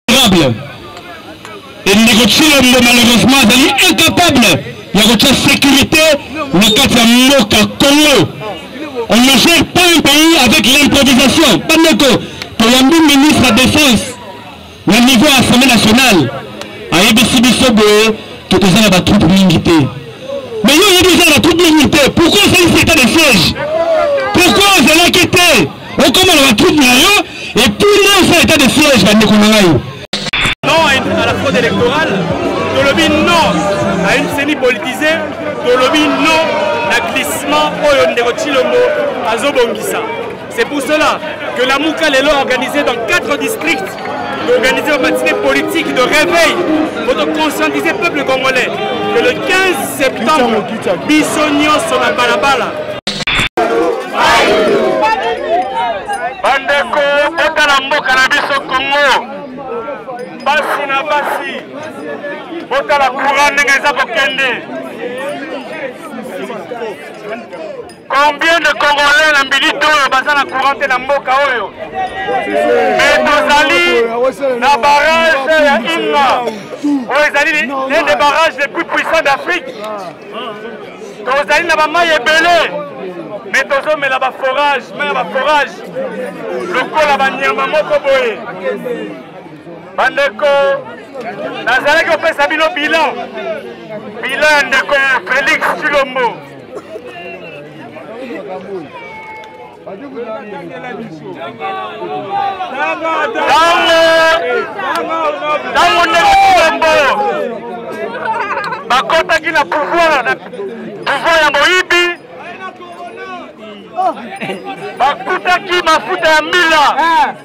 honorable ndeko tshilombo malheureusement azali incapable ya kotya sécurité na kati ya mboka congo on ne gère pas un pays avec l'improvisation bandeko toyambi ministre ya défense na niveau ya assemblée nationale ayebisi biso boye tokozala batroupe mingi te mais yo oyebi ozala batroupe mingi te pourkoi osalisi etat de siège pourkoi ozalaki te okoma na batroupe na yo epuis nde osala etat de siège bandeko na ngai non à la fraude électorale tolobi non à une ceni politisée tolobi non na glissement oyo ndeko chilombo azobongisa C'est pour cela que la Mouka Lelo a organisé dans quatre districts d'organiser une matinée politique de réveil pour conscientiser le peuple congolais que le 15 septembre, Bissonio sur la balabala. bandeko botala mboka na biso kongo basi na basi botala courant ndenge eza kokende Combien de Congolais na minute oyo baza na courant te na mboka oyo me tozali na barrage ya Inga oyo ezali l'un des barrages les plus puissants d'Afrique tozali na bamai ebele me tozomela baforage mai ya baforage lokola banyama moko boye bandeko nazalaki kopesa bino bilan bilan ya ndeko felix chilombo ntango ndenge bilembo bakotaki na pouvoir na pouvoir ya moyibi bakutaki mafuta ya mbila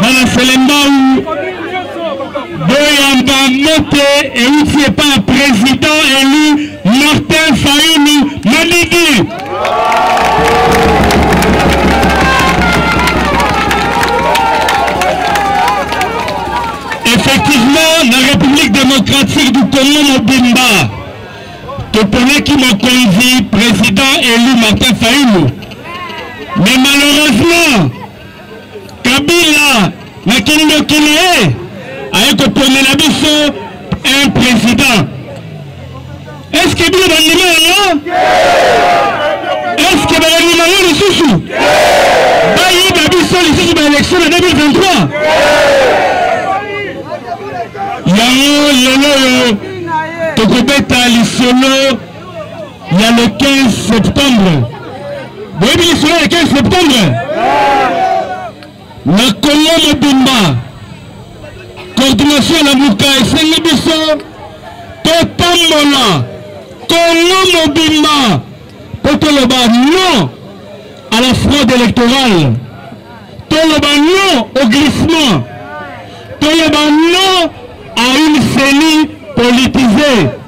bana selembau boyamba moto euti epai ya président élu martin fayulu maliki effectivement na république démocratique du congo mobimba toponaki mokonzi président élu martin fayulu mais malheureusement Kabila na kindoki na ye aye koponela biso un président. Est-ce que bino bandima yango? Est-ce que bandima yango lisusu? Bayiba biso lisusu ba élection na 2023. Yango lelo oyo tokobeta lisolo Il y a le 15 septembre. Vous voyez bien cela le 15 septembre Na Congo mobimba, coordination ya lamuka esengi biso totambola Congo mobimba mpo toloba non à la fraude électorale, toloba non au glissement, toloba non à une CENI politisée.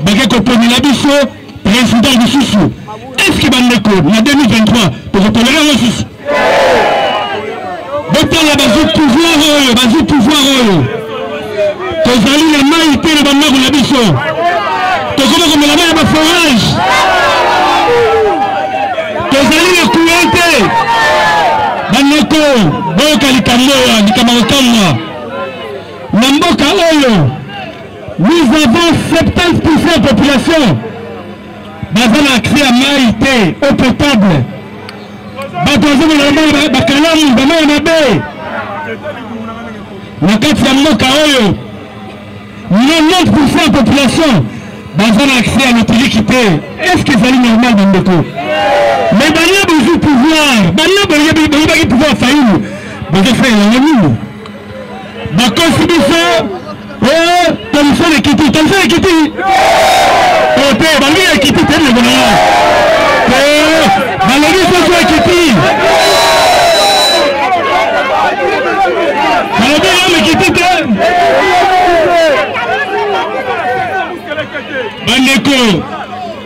bake koponela biso president lisusu eske bandeko na 2023 tokotolera yango lisusu botala bazwi pouvoir oyo bazwi pouvoir oyo tozali na mai te na bandako na biso tokoma komela mai ya baforage tozali na courant te bandeko boyoka likambo oyo likambo ya kokamwa na mboka oyo Nous avons 70% de population baza na accès ya mai te eau potable bato bazomona bakalamu bamai ya mabe na kati ya mboka oyo 90% ya population baza na accès ya lotiliki te est ce que ezali normal bandeko mais bania bozwi pouvoir bania boyebaki pouvoir fayulu bozosalela yango nini bakosi biso eh, telefone ekiti telefone ekiti ote eh, bangi ya ekiti te ndeko na yo eh, balobi soso ekiti balobi yango ekiti te bandeko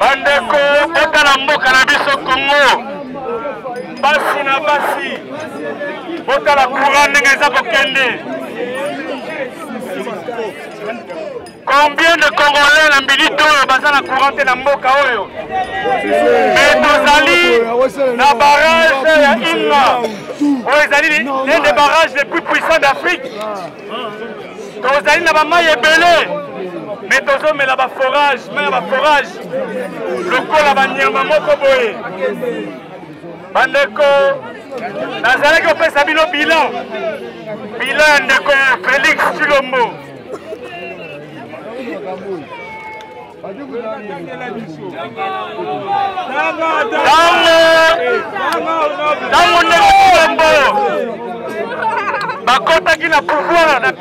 bandeko botala mboka na biso kongo basi na basi botala courant ndenge eza kokende combien de congolais na minute oyo baza na courant te na mboka oyo me tozali na barrage ya inga oyo ezali nde barrage le plus puissant d'afrique tozali na bamai ebele me tozomela baforage mai ya baforage lokola banyama moko boye bandeko nazalaki kopesa bino bilan bilan ya ndeko felix chilombo ntango ndeko kolombo bakotaki na pouvoir na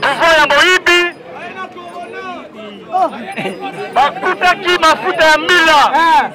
pouvoir ya moyibi bakutaki mafuta ya mbila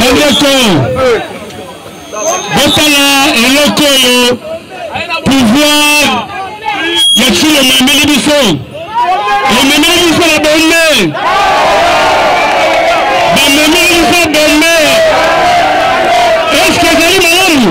bandeko botala eloko oyo pouvoir ya kilo mameli biso ememeli biso na bombe bamemeli biso bombe eske ezali malamu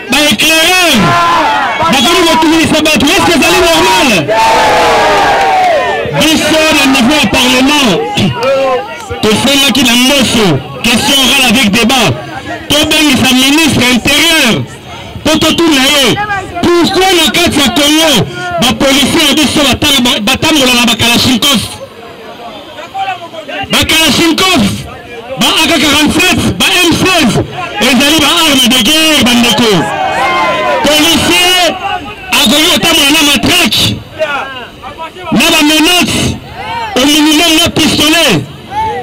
ba éclaireur bakomi kotunisa bato eske ezali normal biso na niveau ya parlement tosengaki na mboso question orale avec débat tobengisa ministre intérieur mpo totuna ye pourkoi na kati ya congo bapolisier ya biso batambola na bakalashnikov bakalashnikov ba aka 47 ba m16 ezali ba arme de guerre bandeko policier akoki kotambola na matrake na bamenace au minimum na pistolet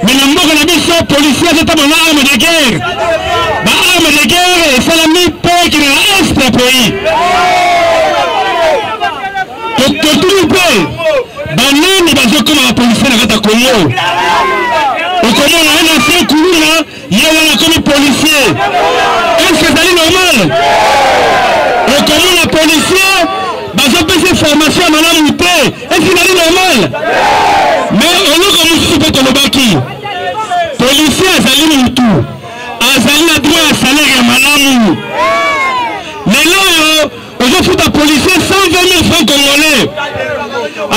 me na mboka na biso policier azotambola na arme de guerre ba arme de guerre esalami mpo ekende na est ya pays totuni mpe banani bazokoma bapolisie na kati ya kongo okomona ye na se kuluna ye wana akomi polisie eske ezali normal okomona polisie bazopesa formation ya malamu te eske ezali normal me oloko mosusu mpe tolobaki polisie azali motu azali na droit ya salaire ya malamu lelo oyo ozofuta policier 120 franc congolais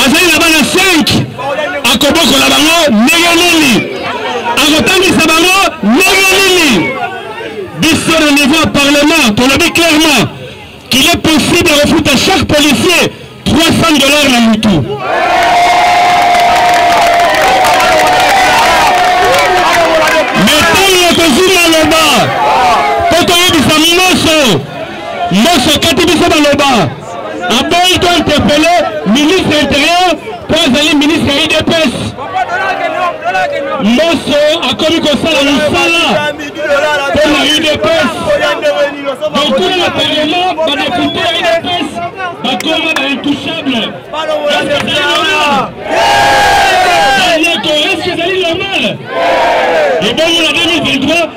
azali na bana 5 akobokola bango ndenge nini akotangisa bango ndenge nini biso na niveau ya parlement tolobi clairement qu'il est possible ya kofuta chaque policier 300 dollars na mutu mais ntango tokozwi maloba mpo toyebisa nyonso Mboso akati biso maloba aboyi to interpele ministre ya interieur mpo azali ministre ya udps mboso akomi kosala mosala mpo na udps bankulu ya parlement badepute ya udps bakoma ba intouchable yeko eske ezali normal ebongo na 2023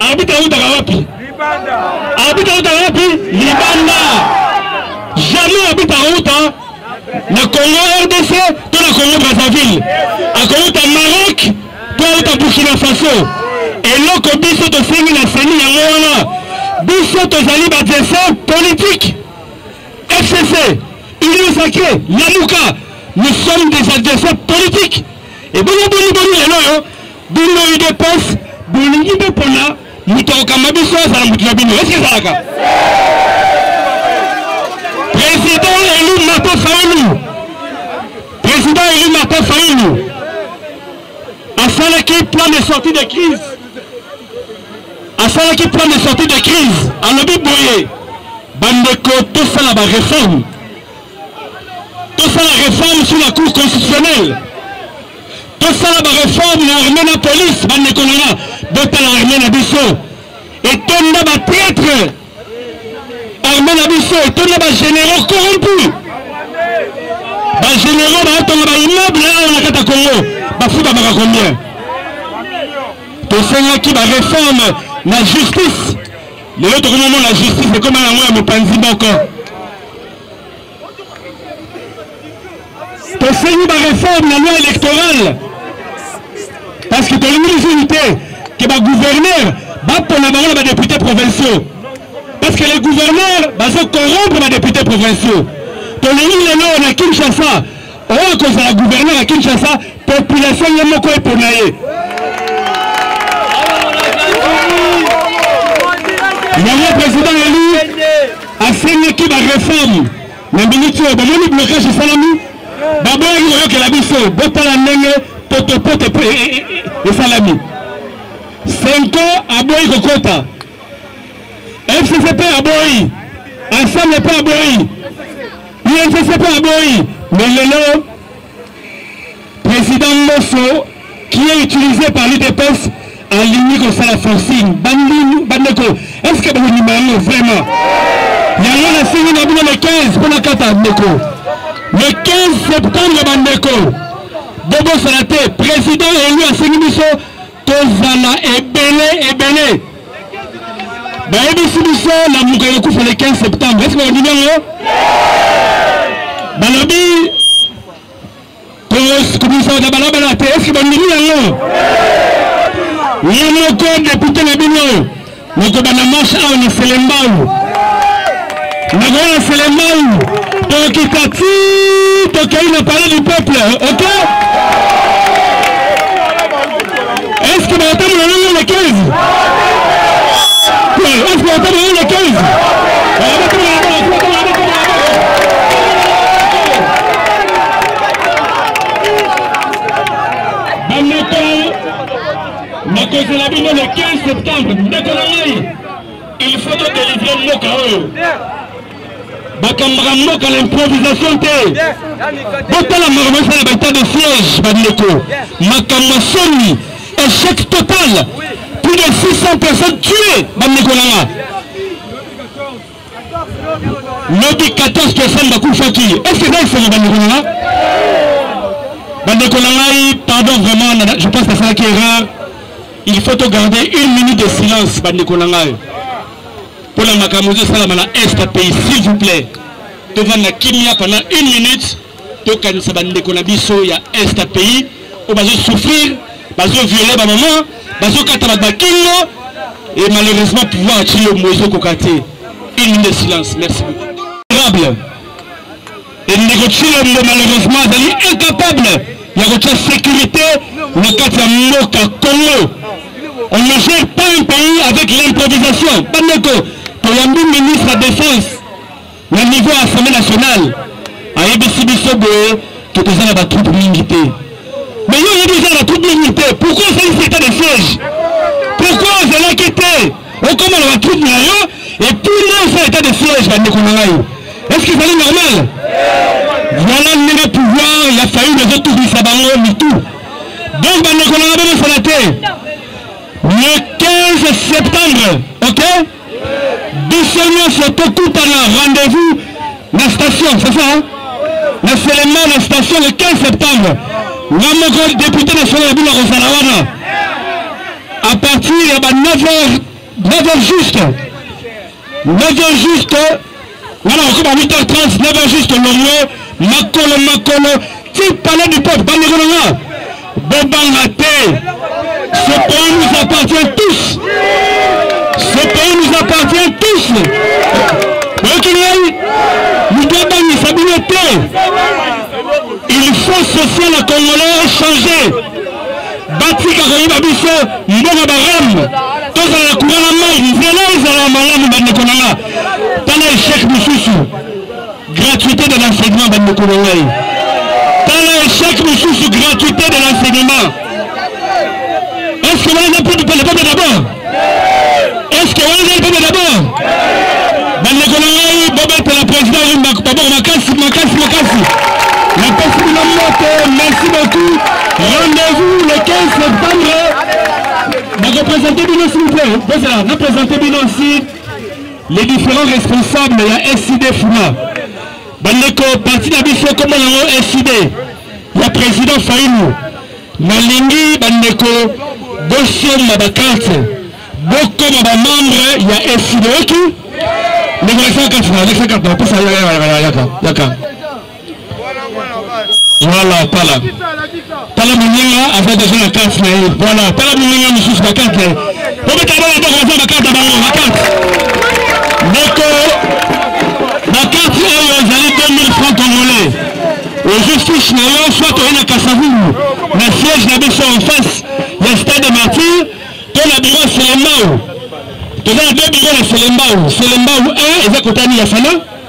Arbitre autaka wapi? Libanda. Arbitre autaka wapi? Libanda. Jamais arbitre auta na Congo RDC to na Congo Brazzaville. Akouta Maroc to auta Burkina Faso. Eloko biso tosengi na seni yango wana biso tozali badversaire politique FCC union sacrée Lamuka nous sommes des adversaires politiques ebongo boni boni lelo oyo Bino udps bolingi bo pona moto akokamba biso azala moto na bino eske ezalaka président élu Martin Fayulu président élu Martin Fayulu asalaki plan de sortie de crise asalaki plan de sortie de crise alobi boye bandeko tosala ba réforme tosala réforme sur la cour constitutionnelle tosala ba reforme na armée na police bandeko na nga botala armée na biso etonda ba traitre armée na biso etonda ba généraux corrompu ba généraux baotonga ba immeuble awa na kata congo bafubamaka combien tosengaki ba reforme na justice lelo tokomomona justice ekoma yango ya mopanzi moko tosengi bareforme na loi électorale parce que tolingi lisusu te ke bagouverneur bapona bango na badepute provinciaux parce que les gouverneurs bazo corrompre badepute provinciaux tolingi lelo na kinshasa oyo kozala gouverneur ya kinshasa population ye moko epona ye yango président elu asengaki bareforme na miniti oyo bamoni blocage esalami baboyaki koyokela biso botala ndenge potopoto mpe e, e, e, esalami senko aboyi kokota fcc mpe aboyi ensemble mpe aboyi Inss mpe aboyi mais lelo président Mboso qui est utilisé par l'UDPS alingi kosala forcing bandeko est ce que bakondima yango vraiment yango nasengi na bino le 15 mpo nakata ndeko le 15 septembre bandeko bobosana te président elu asengi biso tozala ebele ebele bayebisi biso lamuka ekokufa le 15 septembre eske bandimi yango balobi kobimisaka balabala te eske bandimi yango ye moko depute na bino Nakobanda marche awa na Selembao, nakoya na Selembao, tokita ti tokei na palais du peuple, ok? Est-ce que bakotambola nango na 15? Est-ce que bakotambola nango na 15? nakozela bino le 15 septembre ndeko na ngai il faut todelivre mboka oyo bakambaka mboka na improvisation te botala makambo esala na baetat de siège bandeko makambo ya soni échec total plus de 600 personnes tuées bandeko na nga lobi 14 personnes bakufaki est-ce que esenga bandeko na nga bandeko na ngai pardon vraiment je pense nasalaki erreur il faut to garder une minute de silence bandeko na ngai mpo na makambo ezosalama na est ya pays s'il vous plaît tovanda kimia pendant une minute tokanisa bandeko na biso ya est ya pays oyo bazosouffrir bazoviole bamama bazokata bato bakingo e malheureusement pouvoir ya cilombo ezokoka te une minute de silence merci beaucoup endeko cilombo malheureusement azali incapable ya kotya sécurité na kati ya mboka congo on ne gère pas un pays avec l'improvisation bandeko toyambi ministre ya défense Na niveau ya Assemblée nationale ayebisi biso boye tokoza na batroupe mingi te mais yo oyebi oza na batroupe mingi te pourquoi osalisi état de siège pourquoi ozalaki te okoma na batroupe na yo epuis nde osala état de siège bandeko na ngai est ce que ezali normal voilà ndenge pouvoir ya faille ezotubisa bango mitu donc bandeko na ngai bomosana te le 15 septembre ok biso nyonso tokutana rendez-vous na station c'est ça na selema na station le 15 septembre nga moko député national ya bino akozala wana à partir ya ba 9 heures 9 heures juste 9 heures juste Nana bakoma 8h30, 9h juste longo, makolo makolo, ti palais du peuple, bandeko na nga, bobanga te, ce pays nous appartient tous, ce pays nous appartient tous, boyoki ngai, moto abangisa bino te, il faut social ya congolais echange, batika koyeba biso mbongo barame, tozala na courant na mai, nzela ezala malamu bandeko na nga. tala echec mosusu gratuité de l'enseignement bandeko na ngai tala echec mosusu gratuité de l'enseignement est ce que wana peuple peuple d'abord est ce que wana peuple d'abord bandeko na ngai bobetela président oyo baboko makasi makasi makasi napesi bino moto merci beaucoup rendez-vous le 15 septembre bakopresente bino s'il vous plaît bozala napresente bino si les différents responsables ya SID Funa bandeko parti na biso kombo yango SID ya président Fayulu nalingi bandeko bosomba bakarte bokoma bamembre ya SID oki ndeko alexandre kafuna alexandre kafuna pesa yaka yaka yaka Voilà, tala. Tala moninga aza deja na carte na ye. Voilà, tala moninga mosusu na carte na ye. Obeta bango boko baza na carte na bango, na carte. Ndeko, na carte oyo ezali 2000 francs congolais. Ozwi fiche na yo soit oye na Kasavubu na siège na biso en face ya stade de martyr to na biro ya Selembao. Toza na deux biro na Selembao. Selembao 1 eza kotani ya Fana.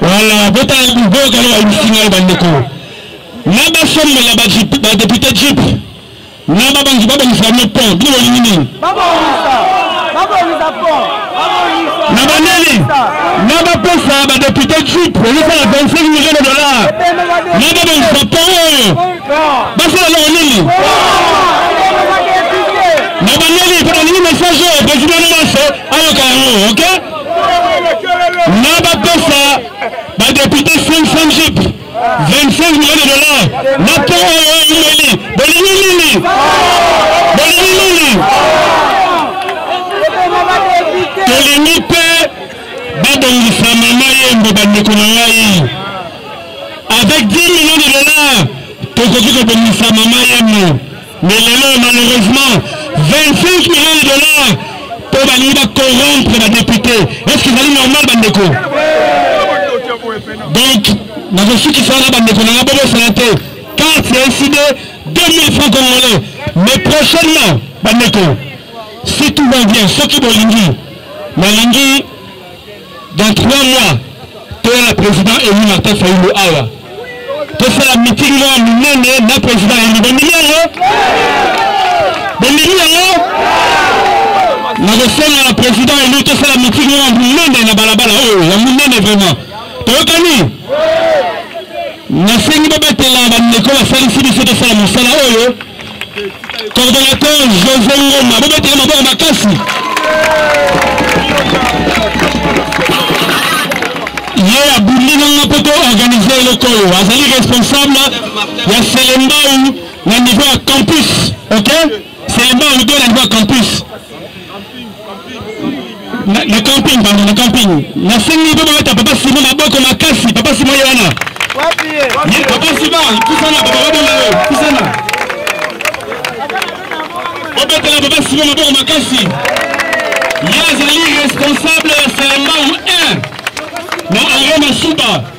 Voilà, botala niveau kala bayibisi ngai bandeko na basombela badepute jip na babanzi babongisa yango pont bino bolingi nini na banani na bapesa badepute jip ezosala 25 million de dollar na babongisa pont oyo basala eloko nini na bandeli mpo nalingi message oyo president nyonso ayoka yango ok na bapesa badepute 500 jip 25 million de dollar na to oyo eumeli bolingi nini bolingi nini tolingi mpe babongisa mama yembo bandeko na ngai avec 10 millions de dollars tokoki kobongisa mama yemno mais lelo malheureusement 25 millions de dollars mpo balingi bacorrompre badepute est ce que ezali normal bandeko donc nakosukisa wana bandeko nanga bobosana te carte ya ecd 2000 francs congolais mais prochainement bandeko si tout va bien soki bolingi nalingi dans trois mois toya na président élu martin fayulu awa tosala meeting moko monene na président élu bomili yango bomili yango nakosenga na président élu tosala meeting moko monene na balabala oyo ya monene vraiment toyokani nasengi babatela bandeko basalisi biso tosala mosala oyo coordonnateur josé ngoma bobetela maboko makasi ye abundi nanga mpo toorganize eloko oyo azali responsable ya selembau na niveau ya campus ok selembau to na niveau ya campus le camping pardon le camping nasengi mpe babeta papa simo maboko makasi papa simo ye wana papa sima pusana papa babona yo pusana obetela papa simo maboko makasi ye azali responsable ya salambamu 1 na aroma suba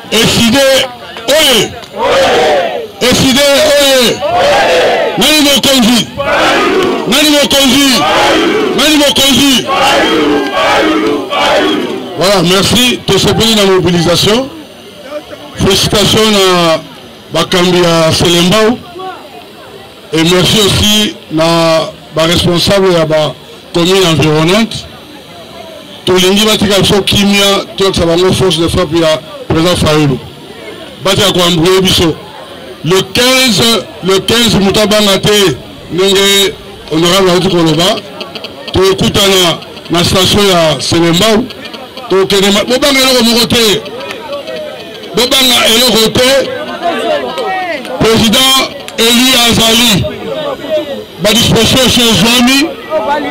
Efide oye! Efide oye! Nani mokonzi? Nani mokonzi? Nani mokonzi? Voilà, merci. Tosepeli na mobilisation. Félicitations na bakambi ya Selembao. Et merci aussi na ba responsable ya ba commune environnante tolingi batika biso kimia toyakisa bango force de frappe ya président fayulu batika koambrouye biso le 15 le 15 moto abanga te ndenge honorable auti koloba tokutana na station ya selembau tokende bobanga eloko moko te bobanga eloko te président élu azali badisposition ezwami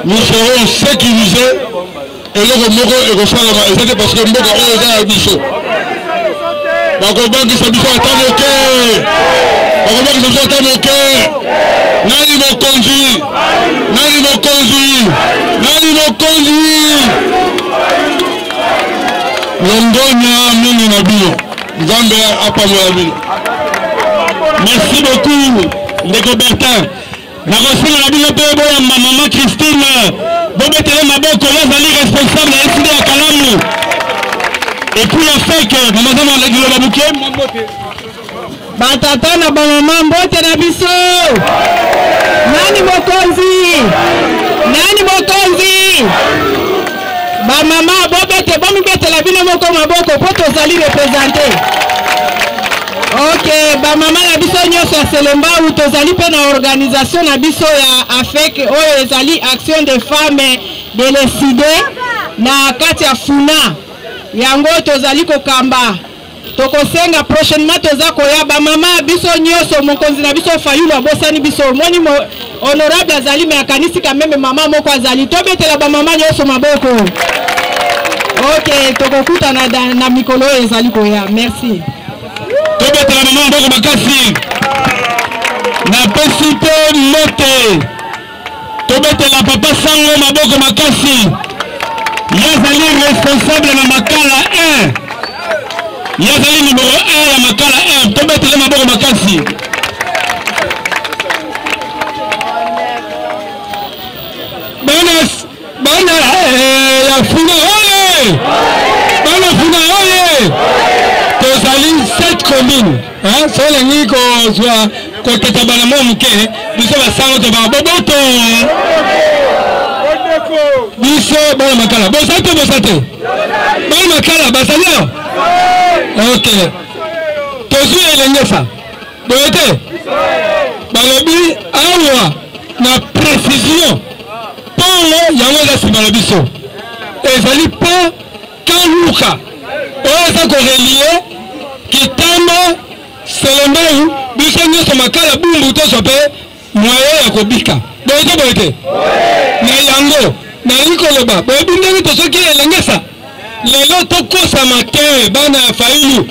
nous serons sécurisé eloko moko ekosalama eza te parce que mboka oyo eza ya biso bakobangisa biso ata moke bakobangisa biso ata moke nani mokonzi nani mokonzi nani mokonzi longonya mingi na bino nzambe apambola bino merci beaucoup ndeko bertin nakosenga na bino mpe boyamba mama christine bobetele maboko bazali responsable ya eside ya kalamu epuis ya feke mamazama liloba boke Batata na bamama mbote na biso. Nani mokonzi? Nani mokonzi? Bamama bobete bomibetela bino moko maboko mpo tozali represente. Ok, bamama na biso nyonso ya Selembao tozali mpe na organisation na biso ya AFEC oyo ezali Action des Femmes de l'Eside na kati ya FUNA. Yango tozali kokamba tokosenga prochainement toza koya bamama biso nyonso mokonzi na biso fayulu abosani biso omoni honorable azali me akanisi kameme mama moko azali tobetela bamama nyonso maboko ok tokokutana na, na mikolo oyo ezali koya merci tobetela mama maboko makasi napesi mpe mbote tobetela papa sango maboko makasi ye azali responsable na makala 1 ye azali numero 1 ya makala 1 tobetele maboko makasi Bana eh, ya Funa oye! Bana Funa oye! Tozali sept communes. Hein, so olingi kozwa kotata bana mwa moke biso basango tobaa boboto biso bana makala boza te boza te bana makala bazali awa ok tozwi elengesa boye te balobi awa na précision pole yango eza nsima na biso ezali po kaluka oyo eza korelie kitama selembei biso nyonso makala bumbu tozwa mpe moye ya kobika boye te boye te na yango nalingi koloba boyebi ndenge tozoki elengesa lelo tokosama te bana ya fayulu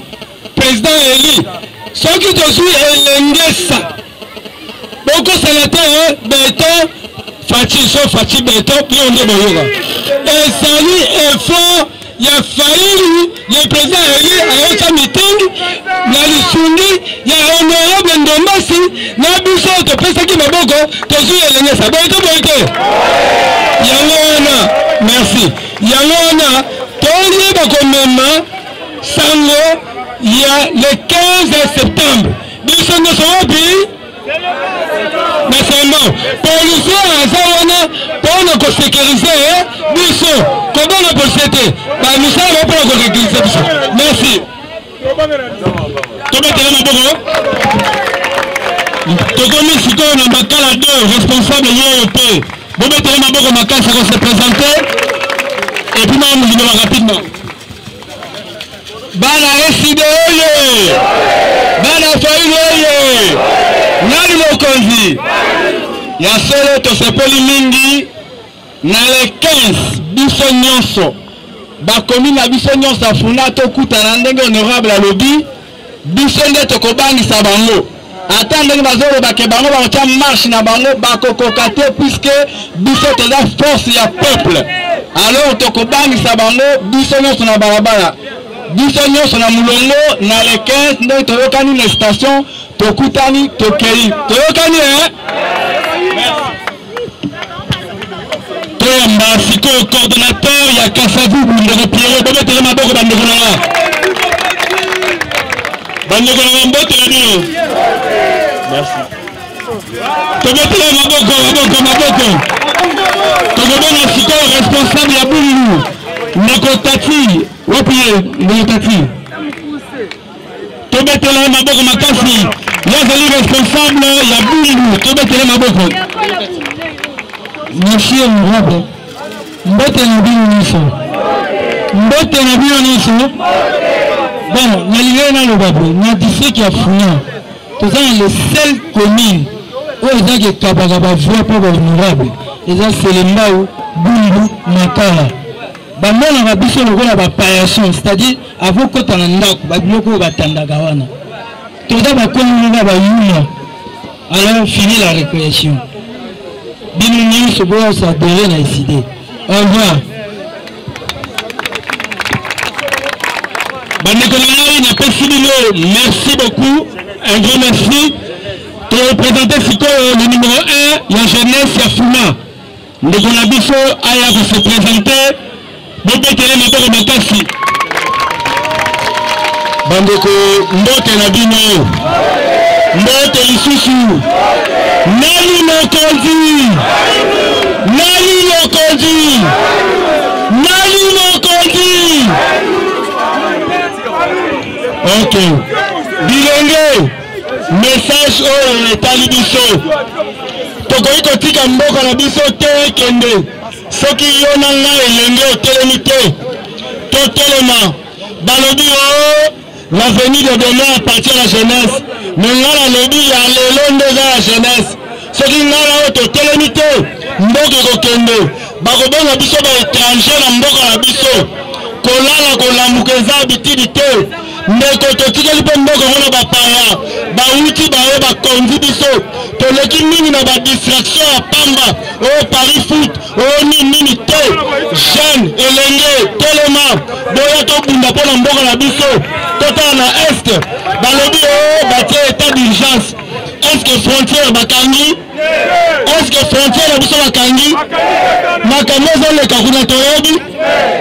president eli soki tozwi elengesa bokosala te eh, beton faci so faci beton yo nde boyoka ezali effort ya faili le president eli ayoka mitingi na lisungi ya honorable ndombasi na biso topesaki maboko tozwi elengesa boye to boye te yango wana merci yango wana toyeba komema sango ya le 15 septembre biso nyonso wapi na sembon policier aza wana mpona kosekirize eh, biso kobanga policier te bamisala bao mpona kosekirize biso merci tobetela maboko tokomi sikoyo na makala 2 responsable yeyo te bobetela maboko makasi akosepresente epuis maomilibaka rapidement bana eside oye bana faili oye nani mokonzi ya solo tosepeli mingi na le 15 biso nyonso bakomi na biso nyonso afuna tokutana ndenge honorable alobi biso nde tokobangisa bango ata ndenge bazoloba ke bango bakotya marche na bango bakokoka te puiske biso toza force ya peuple alors tokobangisa bango biso nyonso na balabala biso nyonso na molongo na le 15 ndenge toyokani na station tokutani tokei toyokani e eh? toyamba sikoyo coordonnateur ya kasavubu ndeko piero bobetele maboko bandeko na nga bandeko na nga mbote na bino merci tobetele maboko maboko maboko tokobona sikoyo responsable ya bululu ndeko tati wapi ye ndeko tati tobetela ye maboko makasi ye azali responsable ya bumbu tobetela ye maboko monsieur murabe mbote na bino nyonso mbote na bino nyonso bon nalingaki naloba boye na district ya funa toza na le seul commune oyo ezaki ekabaka bavoi mpo bahonorable eza selembau bumbu makala bamonaka biso lokola bapayason c'est-à-dire akokota na ndako babiloko oyo batandaka wana toza bakomi na bayuma alors fini la récréation bino nyonso boyosadere na eside au revoir bandeko na ngai napesi bino merci beaucoup un grand merci torepresente sikoyo le numéro 1 ya jeunesse ya fuma Ndeko na biso aya ko se presenter, bobetele maboko makasi. Bandeko mbote na bino, mbote lisusu. Nani mokonzi? Nani mokonzi? Nani mokonzi? Okay. Bilenge Message oyo etali biso. Tokoki kotika mboka na biso te ekende soki yo na ngai elenge otelemi te. Totelema balobi o oh, l'avenir de demain appartient à la jeunesse, mais ngai nalobi ya lelo nde eza ya jeunesse. soki ngai na yo totelemi te mboka ekokende bakobonga biso ba étranger na mboka na biso kolala kolamuka eza abitidi te ndeko totikeli mpe mboka yango na bapaya bawuti baye bakonzi biso toleki mingi na badistraction ya pamba oyo paris foot oyo nini nini te jeune elenge telema boya tobunda mpo na mboka na biso totala na est balobi o oh, batie etat d'urgence Est-ce que frontière bakangi? Est-ce que frontière na biso bakangi? Makambo ezoleka kuna toyebi,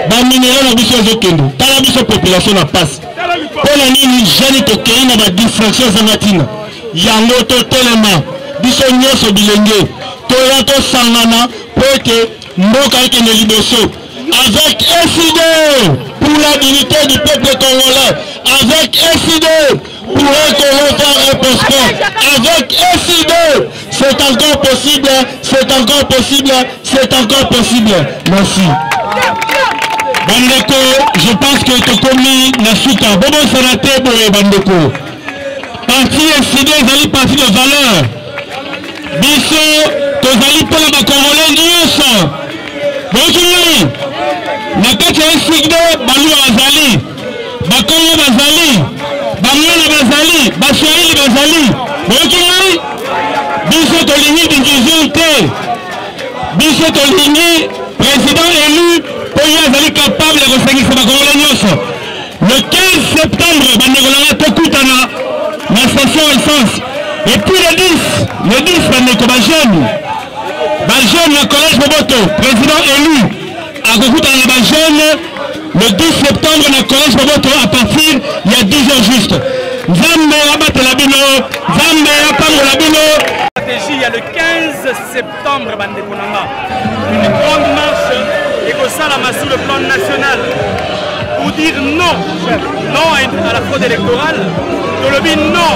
ba minerais na biso ezokende. Tala biso population na pasi. Mpo na nini jeune tokei na ba distraction ezanga ntina? Yango totelema biso nyonso bilenge toya tosangana mpo ete mboka ekende liboso avec FIDE pour la dignité du peuple congolais avec FIDE Touré Congo va reposter avec SID. C'est encore possible, c'est encore possible, c'est encore possible. Merci. bandeko je pense que tokomi na suka bobosana te boye bandeko parti eside ezali parti de valeur biso tozali mpo na bakongolais nyonso boyoki ngai na kati ya eside baluwa azali bakongo bazali bangala bazali baswahili bazali boyoki ngai biso tolingi division te biso tolingi président élu mpo ye azali capable ya kosangisa bakongole nyonso le 15 septembre bandeko na ngai tokutana na station essence epuis le 10 le 10 bandeko bajeune bajeune na collège boboto président élu akokutana na bajeune le 10 septembre na collège boboto à partir ya 10 heures juste nzambe abatela bino nzambe apambola bino stratégie ya le 15 septembre bandeko na nga une grande marche ekosalama sur le plan national pour dire non non à la fraude électorale tolobi non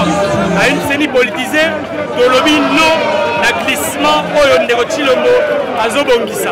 à une ceni politisée tolobi non na glissement oyo ndeko tshilombo azobongisa